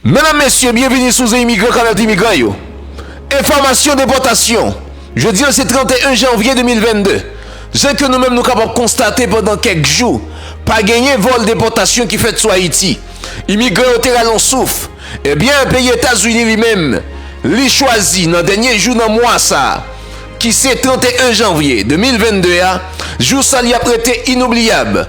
Medam mesye byenvini sou ze imigran kanal ti migran yo enfòmasyon depòtasyon jodi an se 31 janvye 2022 ze ke nou menm nou kapab konstate pandan kèk jou pa genyen vòl depòtasyon ki fèt sou ayiti imigran yo te rale yon souf ebyen peyi etazini li menm li chwazi nan dènye jou nan mwa sa ki se 31 janvye 2022 a jou sa li ap rete inoubliyab.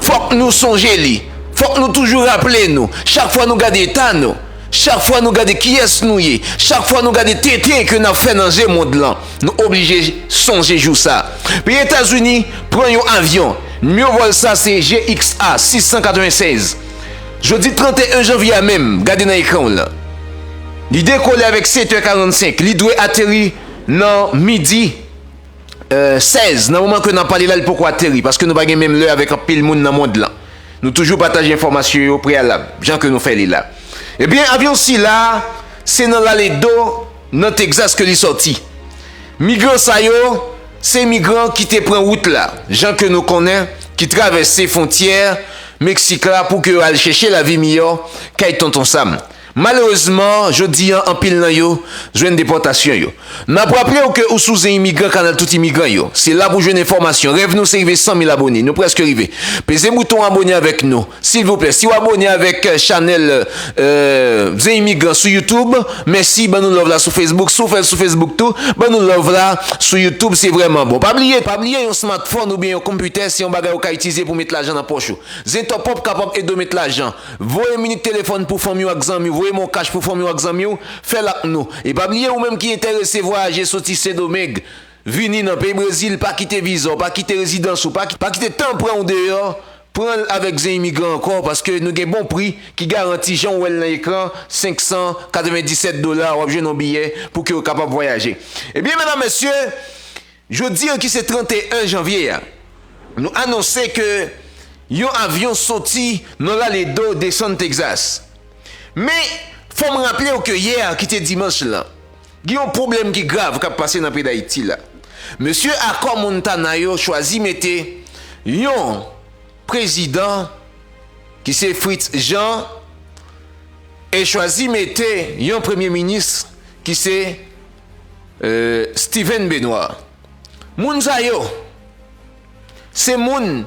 Fòk nou sonje li. Fòk nou toujou raple nou, chak fwa nou gade eta nou, chak fwa nou gade kiyès nou ye, chak fwa nou gade tenten ke n ap fè nan je mond lan, nou oblije sonje jou sa. Peyi Etazini pran yon avyon, nimewo vòl sa se GXA 696. Jodi 31 janvye a menm, gade nan ekran w lan. Li dekole avèk 7 è 45, li dwe ateri nan midi. 16, Nan moman ke nap pale la li poko ateri, paske nou pa gen menm lè avèk anpil moun nan mond lan. Nou toujou pataje enfòmasyon yo preyalab, jan ke nou fè li la. Ebyen, avyon sila a, se nan Laredo, nan Texas ke li sòti. Migran sa yo, se migran ki te pran wout la, jan ke nou konnen, ki travèse fontyè Meksik la pou ke yo al chèche lavi miyò kay Tonton Sam. Malerezman, jodi an anpil nan yo jwenn depòtasyon yo. N ap raple w ke ou sou Zen Imigran kanal tout imigran yo. Se la pou w jwenn enfòmasyon. Rèv nou se rive 100 mil abone. Nou prèske rive. Peze bouton abone avèk nou. Silvouplè, si w abone avèk chanèl Zen Imigran sou YouTube, mèsi. Ban nou love la sou Facebook. Si w fè l sou Facebook tou, ban nou love la sou YouTube. Se vrèman bon. Pa bliye, pa bliye yon smartphone oubyen yon konpitè se yon bagay ou ka itilize pou w met lajan nan pòch ou. Zentòpòp kapab ede w met lajan. Voye minit telefòn pou fanmi w ak zanmi w, voye mon cash pou fanmi w ak zanmi w, fè l ak nou. E pa bliye ou menm ki entèrese vwayaje soti Sendomeng vini nan peyi Brezil, pa kite viza w, pa kite rezidans ou, pa kite tan pran w deyò, pran l avèk Zen Imigran ankò paske nou gen bon pri ki garanti jan w wè l nan ekran 597 dola wap jwenn yon biyè pou ke w kapab vwayaje. Ebyen medam mesye. Jodi an ki se 31 janvye a, nou anonse ke yon avyon soti nan Laredo desann Texas. Men, fò m raple w ke yè a ki te dimanch lan, gen yon pwoblèm ki grav k ap pase nan peyi Dayiti la. Mesye Akò Montana yo chwazi mete yon prezidan ki se Fritz Jean e chwazi mete yon premye minis ki se Steven Benoît Moun sa yo se moun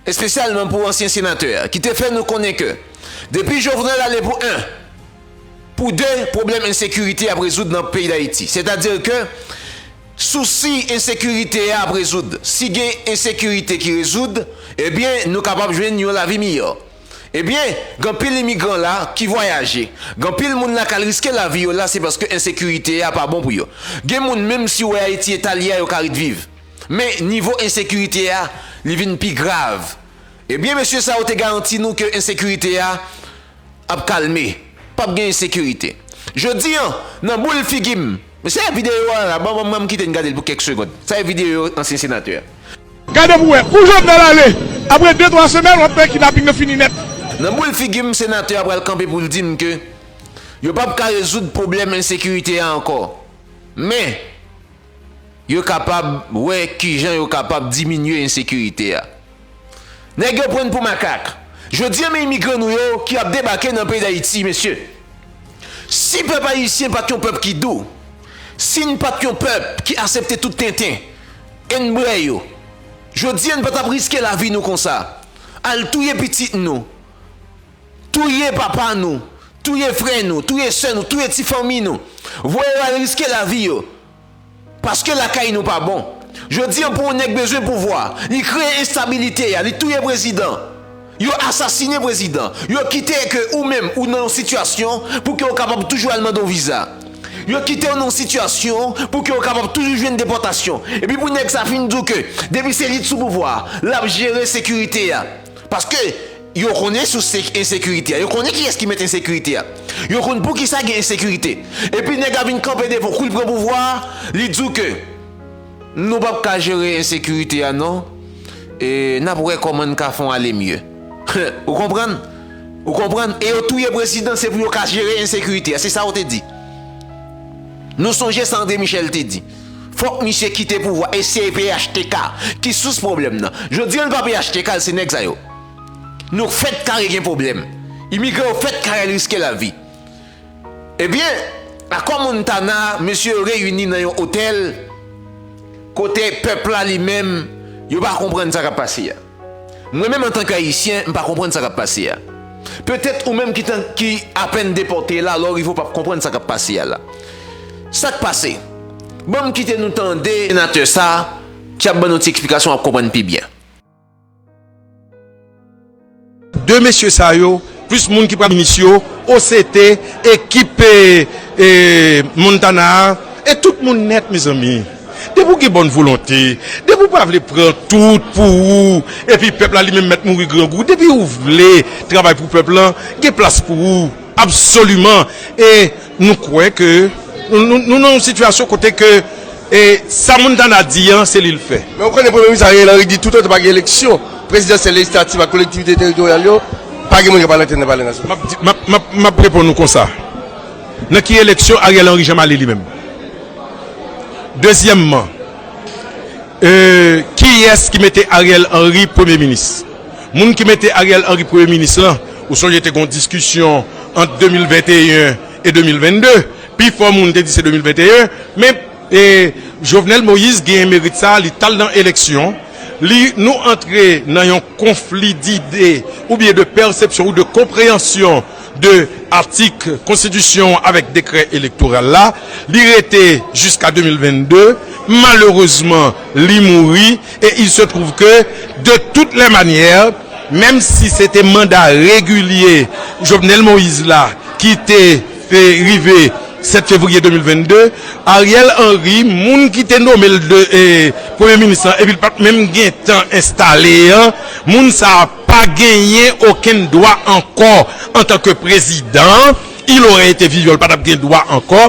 espesyalman pou ansyen senatè a ki te fè nou konnen ke depi Jovenel ale pou 1 pou 2 pwoblèm ensekirite ap rezoud nan peyi Dayiti sètadi ke sousi ensekirite a ap rezoud si gen ensekirite ki rezoud ebyen nou kapab jwenn yon lavi miyò. Ebyen, gen anpil imigran la ki vwayaje. Gen anpil moun la kal riske lavi yo la se paske ensekirite a pa bon pou yo. Gen moun menm si wè Ayiti eta li a yo ka ret viv. Men nivo ensekirite a li vin pi grav. Ebyen mesye sa yo te garanti nou ke ensekirite a ap kalme. Pap gen ensekirite. Jodi an nan boul figi m. Men sa e video a la ban banm kite n gade l pou kèk segond. Sa e video ansyen senatè a. Gade pou wè, kou Jovenel ale, apre de twa semèn wap wè kidnaping nan fini nèt. Nan boul figi m senatè a pral kanpe pou l di m ke yo pap ka rezoud pwoblèm ensekirite a ankò, men yo kapab wè kijan yo kapab diminye ensekirite a. Nèg yo prann pou makak. Jodi an men imigran nou yo ki ap debake nan peyi Dayiti mesye. Si pèp ayisyen pat yon pèp ki dou, si n pat yon pèp ki asepte tout tenten e n brè yo, jodi an n pa tap riske lavi nou konsa, al touye pitit nou, touye papa nou, touye frè nou, touye sè nou, touye ti fanmi nou, voye yo al riske lavi yo. Paske lakay nou pa bon. Jodi an pou yon nèg bezwen pouvwa, li kreye enstabilite ya, li touye prezidan, yo asasine prezidan, yo kite ke ou menm ou nan yon sitiyasyon pou ke ou kapab toujou al mande yon viza. Yo kite ou nan yon sitiyasyon pou ke ou kapab toujou jwenn depòtasyon. Epi pou nèg sa fin di w ke depi se li t sou pouvwa a, lap jere sekirite ya. Paske. Yo konnen sous ensekirite a. Yo konnen kiyès ki mèt ensekirite a. Yo konn poukisa gen ensekirite. Epi nèg la vin kanpe devan w kou li pran pouvwa a, li di w ke nou p ap ka jere ensekirite a non, e n ap wè kòman n ka fè w ale mye. Humm! Ou konprann? Ou konprann? E yo touye prezidan se pou yo ka jere ensekirite a. Se sa yo te di. Nou sonje sa André Michel te di. Fòk misye kite pouvwa e se phtk ki sous pwoblèm nan. Jodi an l pa phtk l se nèg sa yo. Nou fèt kare gen pwoblèm. Imigran yo fèt kare riske lavi. Ebyen, Akò Montana a, mesye yo reyini nan yon otèl kote pèp la li menm, yo pa konprann sa k ap pase a. Mwen menm antanke Ayisyen, m pa konprann sa k ap pase a. Petèt ou menm ki apèn depòte la, lè w rive ou p ap konprann sa k ap pase a la. Sa k pase? Ban m kite nou tande senatè sa a ki ap ban nou ti eksplikasyon w ap konprann pi byen. 2 mesye sa yo plis moun ki pral minis yo OCT ekip Montana a e tout moun nèt mezanmi depi ou gen bòn volonte depi ou pa vle pran tout pou ou epi pèp la li menm mèt mouri grangou depi ou vle travay pou pèp lan gen plas pou ou absoliman e Nou kwè ke nou nan yon sitiyasyon kote ke sa Montana di an se li l fè. Men ou konnen Premye Minis Ariel Henry di toutotan pa gen eleksyon prezidansyèl, lejislativ ak kolektivite teritoryal yo, pa gen moun k ap al entèn nan Palè Nasyonal. M ap reponn ou konsa, nan ki eleksyon Ariel Henry janm ale li menm? Dezyèmman, kiyès ki mete Ariel Henry Premye Minis? Moun ki mete Ariel Henry Premye Minis lan, Ou sonje te gen yon diskisyon ant 2021 e 2022, pi fò moun te di se 2021, men Jovenel Moïse genyen merit sa a, li t al nan eleksyon, li, nou antre nan yon konfli dide oubyen de pèsepsyon ou de konpreyansyon de atik konstitisyon an avèk dekrè elektoral la, li rete jiska 2022, malerezman li mouri. Et il se trouve que de toutes les manières menm si se te manda regilye Jovenel Moïse la ki te rive 7 fevriye 2022, Ariel Henry moun ki te nome l premye minis lan epi l pa t menm gen tan enstale an, moun sa a pa genyen okenn dwa ankò antanke prezidan, il aurait été vivant l pa t ap gen dwa ankò.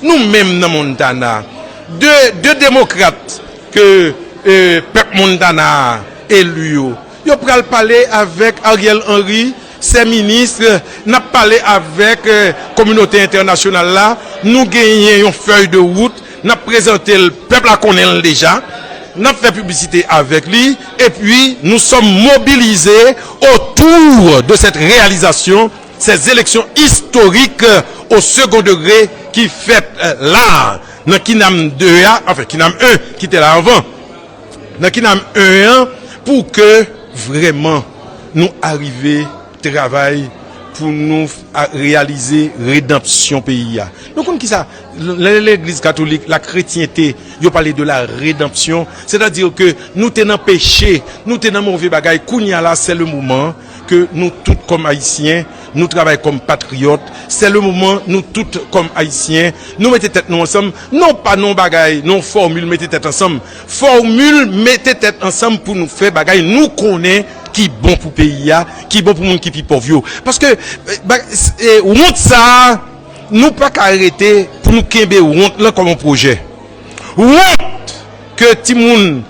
Nou menm nan Montana, de de demokrat ke pèp Montana a elu yo, yo pral pale avèk Ariel Henry, sè ministre, n ap pale avèk kominote entènasyonal la, nou genyen yon fèy de wout, n ap prezante l, pèp la konnen l deja, n ap fè piblisite avèk li, epi nou sòm mobilize otou de sèt reyalizasyon. Se zeleksyon istorik o segon degre ki fèt la nan kinam 2 a, anfen kinam 1 ki te la anvan, nan kinam 1 an pou ke vrèman nou arive travay pou nou reyalize redanpsyon peyi a. Nou konn kisa, lè legliz katolik, la kretyente, yo pale de la redanpsyon, sètadi ke nou te nan peche, nou te nan move bagay, kounye a la se le moman. ke nou tout kòm ayisyen nou travay kòm patriyòt sè le moman nou tout kòm ayisyen nou mete tèt nou ansanm non pa non bagay non fòmil mete tèt ansanm fòmil mete tèt ansanm pou nou fè bagay nou konnen ki bon pou peyi a ki bon pou moun ki pi pòv yo paske wont sa nou pa ka rete pou nou kenbe wont lan kòm yon pwojè wont ke ti moun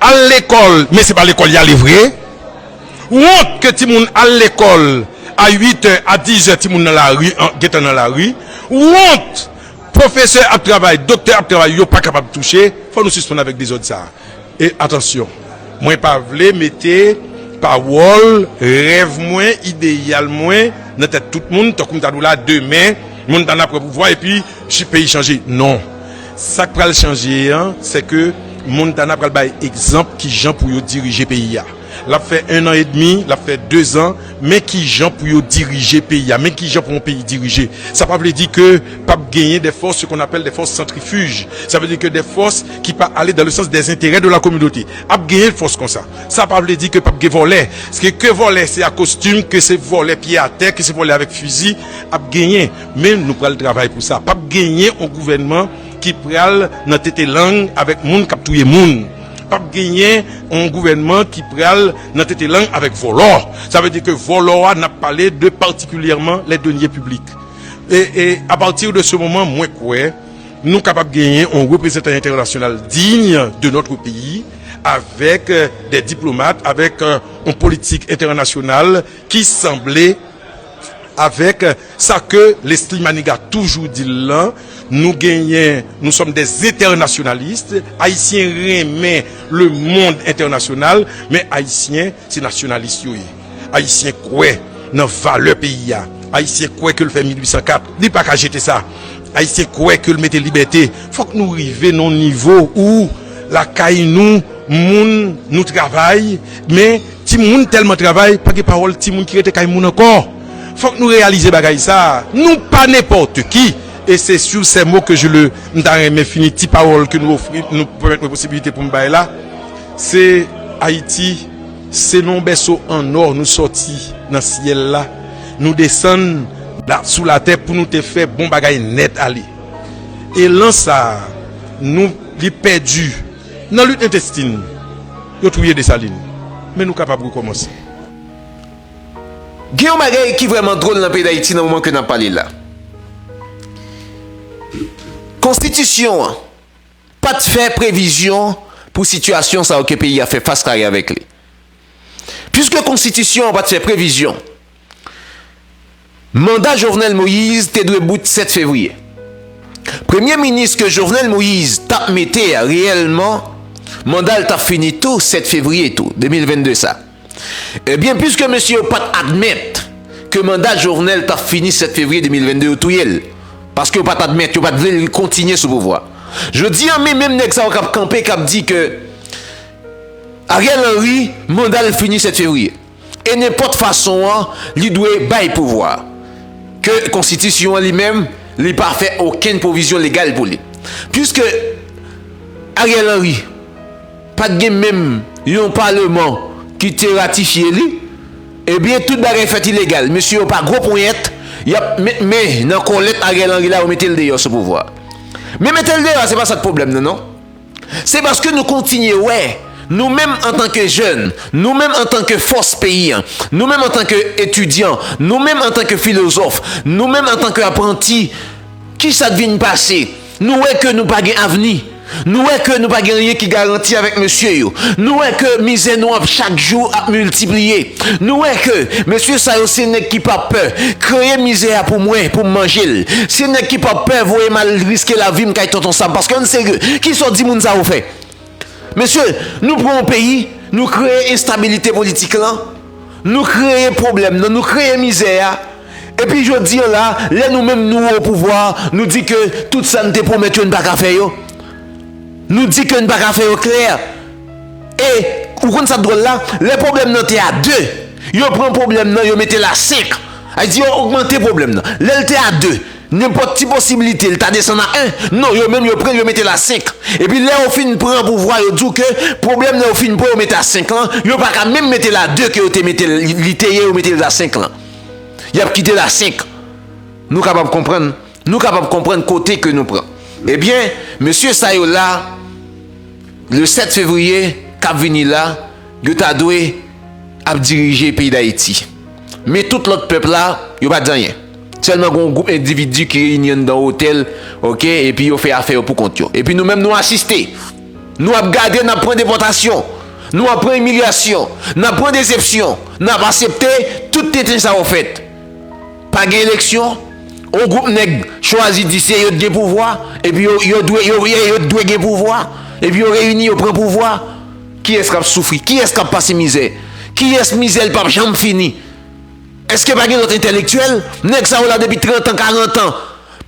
Al lekòl men se pa lekòl y ale vre. Wont ke timoun al lekòl a 8 è, a 10 è timoun nan lari, gentan nan lari. Wont pwofesè ap travay, doktè ap travay yo pa kapab touche. Fò nou sispann avèk dezòd sa a. E atansyon, mwen pa vle mete pawòl, rèv mwen, ideyal mwen nan tèt tout moun tankou m ta di w la demen moun ta nan pran pouvwa epi peyi chanje. Non. Sak pral chanje an se ke Montana pral bay egzanp kijan pou yo dirije peyi a. Lap fè 1 an edmi, lap fè 2 zan, men kijan pou yo dirije peyi a, men kijan pou yon peyi dirije. Sa pa vle di ke pap genyen dè fòs, se kon apèl dè fòs santrifij. Sa vle di ke dè fòs ki pa ale dan le sans dè zenterè de la kominote. Ap genyen fòs konsa. Sa pa vle di ke pap gen vòlè. Ske ke vòlè se a kostim, ke se vòlè pye atè, ke se vòlè avèk fizi, ap genyen. Men nou pral travay pou sa pap genyen on gouvènman ki pral nan tete lang avèk moun kap touye moun pap genyen on gouvènman ki pral nan tete lang avèk vòlò sa vle di ke vòlò a nap pale de patikilyèman lè deniye piblik e a pati de se moman mwen kwè nou kapab genyen on reprezantan entènasyonal diy de notre peyi avèk de diplomat avèk on politik entènasyonal ki sanble. Avèk sa ke Leslie Manigat toujou di l lan, nou genyen, nous sommes des internationalistes, Ayisyen renmen le mond entènasyonal, men Ayisyen se nasyonalis yo ye. Ayisyen kwè nan valè peyi a. Ayisyen kwè ke l fè 1804, li pa ka jete sa. Ayisyen kwè ke l mete libète. Fòk nou rive nan yon nivo ou lakay nou, moun nou travay, men. Timoun tèlman travay, pa gen pawòl timoun ki rete kay moun ankò. Fòk nou reyalize bagay sa a, nou pa nenpòte ki. E se sur ces mots que je le m ta renmen fini ti pawòl ke nou ofri, nou pèmèt mwen posibilite pou m bay la. Se Ayiti, se nan yon bèso an ò nou sòti nan syèl la, nou desann la sou latè pou nou te fè bon bagay nèt ale. Elan sa a, nou li pèdi. Nan lit entestin, yo touye Desalin. Men nou kapab rekòmanse. Gen yon bagay ki vrèman dwol nan peyi Dayiti nan moman ke nap pale la. Konstitisyon an pat fè previzyon pou sitiyasyon sa yo ke peyi a fè fas kare avèk li. Piske konstitisyon an pat fè previzyon. Manda Jovenel Moise te dwe bout 7 fevriye. Premye minis ke Jovenel Moise tap mete a reyèlman mandal tap fini tou 7 fevriye tou 2022 sa. Ebyen pwiske mesye yo pat admèt ke manda Jovenel tap fini 7 fevriye 2022 yo touyel. Paske yo pat admèt, yo pat vle li kontinye sou pouvwa. Jodi an men menm nèg sa yo kap kanpe kap di ke Ariel Henry mandal fini 7 fevriye. e nenpòt fason an li dwe bay pouvwa ke konstitisyon an li menm li pa fè okenn pwovizyon legal pou li. Puiske Ariel Henry pa t gen menm yon paleman ki te ratifye li, ebyen tout bagay fèt ilegal. Mesye yo pa gwo ponyèt, y ap met men nan kòlèt Ariel Henry la yo mete l deyò sou pouvwa. Men mete l deyò a se pa sa k pwoblèm nan non. Se paske nou kontinye wè, nou menm antanke jèn, nou menm antanke fòs peyi an, nou menm antanke etidyan, nou menm antanke filozòf, nou menm antanke apranti, ki sa k vin pase? Nou wè ke nou pa gen avni. Nou wè ke nou pa gen anyen ki garanti avèk mesye yo. Nou wè ke mizè nou ap chak jou ap miltipliye. Nou wè ke mesye sa yo se nèg ki pa pè kreye mizè a pou mwen, pou m manje l. Se nèg ki pa pè voye m al riske lavi m kay Tonton Sam. Paske ann serye, ki sa w di moun sa yo fè? Mesye, nou pran yon peyi, nou kreye enstabilite politik lan, nou kreye pwoblèm nan, nou kreye mizè a, epi jodi an la, lè nou menm nou o pouvwa, nou di ke tout sa n te pwomèt yo n pa ka fè yo? Nou di ke n pa ka fè yo klè? E, ou konn sa k dwòl la, lè pwoblèm nan te a 2, yo pran pwoblèm nan yo mete l a 5. Sa vle di yo ogmante pwoblèm nan. Lè l te a 2, nenpòt ti posiblite l ta desann a 1. Non, yo menm yo pran l yo mete l a 5. Epi lè yo fin pran pouvwa yo di w ke pwoblèm nan yo fin pran yo mete a 5 lan, yo pa ka menm mete l a 2 ke yo te mete l, li te ye yo mete l a 5 lan. Y ap kite l a 5. Nou kapab konprann? Nou kapab konprann kote ke nou pran. Ebyen, mesye sa yo la, le 7 fevriye k ap vini la, yo ta dwe ap dirije peyi Dayiti. Men tout lòt pèp la, yo pa di anyen. Sèlman gen yon gwoup endividi ki reyini anndan yon otèl, ok, epi yo fè afè yo pou kont yo. Epi nou menm nou asiste. Nou ap gade, n ap pran depòtasyon. Nou ap pran imilyasyon. N ap pran desepsyon. N ap asepte tout tenten sa yo fèt. Pa gen eleksyon, yon gwoup nèg chwazi di se yo t gen pouvwa, epi yo yo dwe yo ye yo t dwe gen pouvwa, epi yo reyini yo pran pouvwa. Kiyès k ap soufri? Kiyès k ap pase mizè? Kiyès mizè l p ap janm fini? Èske pa gen lòt entèlektyèl? Nèg sa yo la depi trantan, karantan.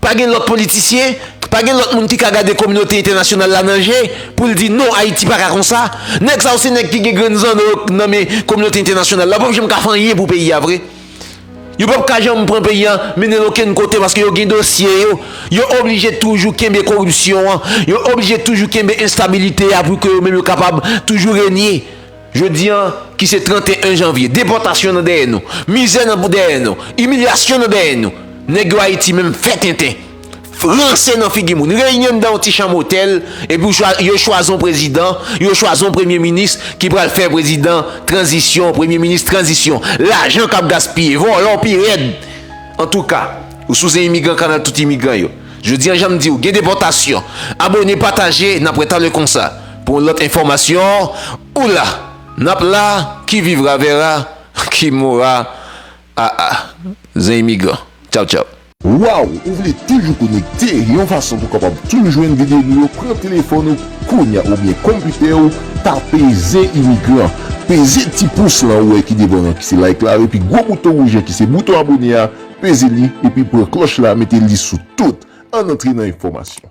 Pa gen lòt politisyen? Pa gen lòt moun ki ka gade kominote entènasyonal la nan je pou l di non Ayiti pa ka konsa? Nèg sa yo se nèg ki gen grenn zanno yo nan men kominote entènasyonal la. Yo p ap janm ka fè anyen pou peyi a vre. Yo pap ka janm pran peyi an mennen l okenn kote paske yo gen dosye yo. Yo oblije toujou kenbe koripsyon an. Yo oblije toujou kenbe enstabilite a pou ke yo menm yo kapab toujou renye. Jodi an ki se 31 janvye, depòtasyon nan dèyè nou, mizè nan dèyè nou, imilyasyon nan dèyè nou, nèg yo Ayiti menm fè tenten. Ranse nan figi moun. Reyini anndan yon ti chanm otèl, epi w chwa, yo chwazi yon prezidan, yo chwazi yon premye minis ki pral fè prezidan tranzisyon, premye minis tranzisyon. Lajan k ap gaspiye. Vòlò pi rèd. Antouka, ou souze imigran kanal tout imigran yo. Jodi an jan m di w, gen depòtasyon. Abone, pataje, n ap wè talè konsa pou yon lòt enfòmasyon. Ou la, n ap la, qui vivra verra, qui mourra aa. Zen imigran. Tchaw tchaw. Waw ou vle toujou konekte yon fason pou kapab toujou jwenn video nou yo pran telefòn ou kounya oubyen konpitè ou tape zen imigran peze ti pous lan ou wè ki devan an ki se like la epi gwo bouton wouj an ki se bouton abone a peze li epi pran klòch la mete li sou tout ann antre nan enfòmasyon.